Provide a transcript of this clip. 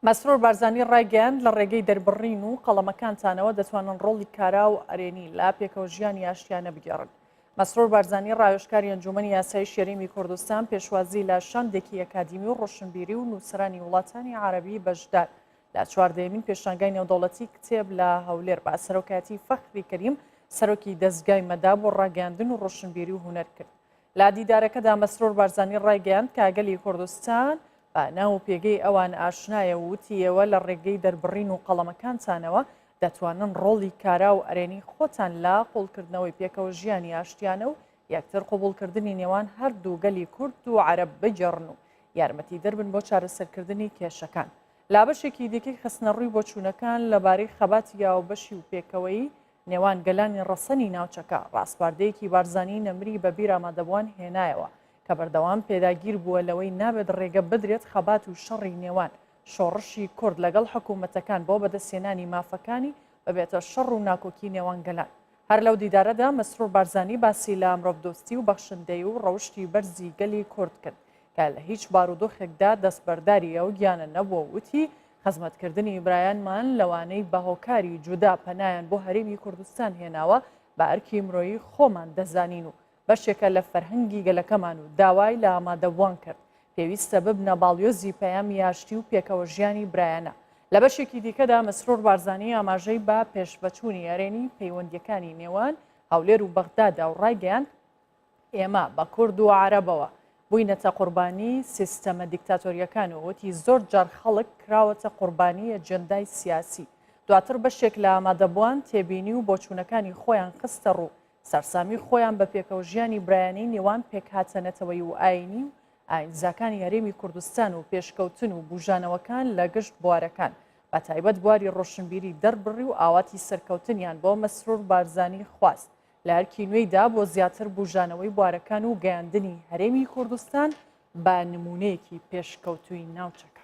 مەسرور بارزانی ڕایگەیاند، لە ڕێگەی دەربڕین و قەڵەمەکانتانەوە دەتوانن ڕۆڵی کارا و ئەرێنی لە پێکەوەژیانی ئاشتیانە بگێڕن. مەسرور بارزانی ڕاوێژکاری ئەنجوومەنی یاسایی شێرینگی کوردستان پێشوازی لە شاندێکی ئەکادیمی و ڕۆشنبیری و نووسەرانی وڵاتانی عەرەبی بەشدار لە چواردەیەمین پێشانگای نێودەوڵەتی کتێب لە هەولێر بە سەرۆکایەتی فەخری کەریم سەرۆکی دەزگای مەداب و ڕاگەیاندن و ڕۆشنبیری و هونەر کرد. لە دیدارەکەدا مەسرور بارزانی ڕایگەیاند کە گەلی کوردستان بە ناو و پێگەی ئەوان ئاشنایە و وتی ئێوە لە ڕێگەی دەربڕین و قەڵەمەکانتانەوە دەتوانن ڕۆڵی کارا و ئەرێنی خۆتان لە قوڵکردنەوەی پێکەوە ژیانی ئاشتیانە و یەکتر قبوڵکردنی نێوان هەردوو گەلی کورد و عەرەب بگێڕن و یارمەتی دەربن بۆ چارەسەرکردنی کێشەکان. لابەشێکی دیکەی خستنەڕووی بۆچوونەکان لەبارەی خەباتی یاوەبەشی و پێکەوەیی نێوان گەلانی ڕەسەنی ناوچەکە، ڕاسپاردەیەکی بارزانی نەمری بە بیرامادەبوان هێنایەوە، کە بەردەوام پێداگیر بووە لەوەی نابێت ڕێگە بدرێت خەبات و شەڕی نێوان شۆڕشی کورد لەگەڵ حکوومەتەکان بۆ بەدەستهێنانی مافەکانی ببێتە شەڕ و ناکۆکی نێوان گەلان. هەر لەو دیدارەدا مەسرور بارزانی باسی لە مرۆڤدۆستی و بەخشندەیی و ڕەوشتی بەرزی گەلی کورد کرد کە لە هیچ بارودۆخێکدا دەستبەرداری ئەو گیانە نەبووە و وتی، خزمەتکردنی برایانمان لەوانەی بە هۆکاری جودا پەنایان بۆ هەرێمی کوردستان هێناوە، بە ئەرکی مرۆیی خۆمان دەزانین و بەشێکە لە فەرهەنگی گەلەکەمان و داوای لە ئامادەبووان کرد، پێویستە ببنە باڵیۆزی پەیامی ئاشتی و پێکەوەژیانی برایانە. لە بەشێکی دیکەدا مەسرور بارزانی ئاماژەی بە پێشڤەچوونی ئەرێنی پەیوەندییەکانی نێوان هەولێر و بەغدادا و ڕایگەیاند، ئێمە بە کورد و عەرەبەوە بووینەتە قوربانی سیستەمە دیکتاتۆریەکان و وتی زۆر جار خەڵک کراوەتە قوربانی ئەجێندای سیاسی دواتر بەشێک لە ئامادەبووان تێبینی و بۆچوونەکانی خۆیان خستە ڕوو سەرسامی خۆیان بە پێکەوەژیانی برایانەی نێوان پێکهاتە نەتەوەیی و ئاینی و ئاینزاکانی هەرێمی کوردستان و پێشکەوتن و بوژانەوەکان لە گشت بوارەکان بە تایبەت بواری ڕۆشنبیری دەربڕی و ئاواتی سەرکەوتنیان بۆ مەسرور بارزانی خواست لە ئەرکی نوێیدا بۆ زیاتر بوژانەوەی بوارەکان و گەیاندنی هەرێمی کوردستان بە نموونەیەکی پێشکەوتووی ناوچەکە.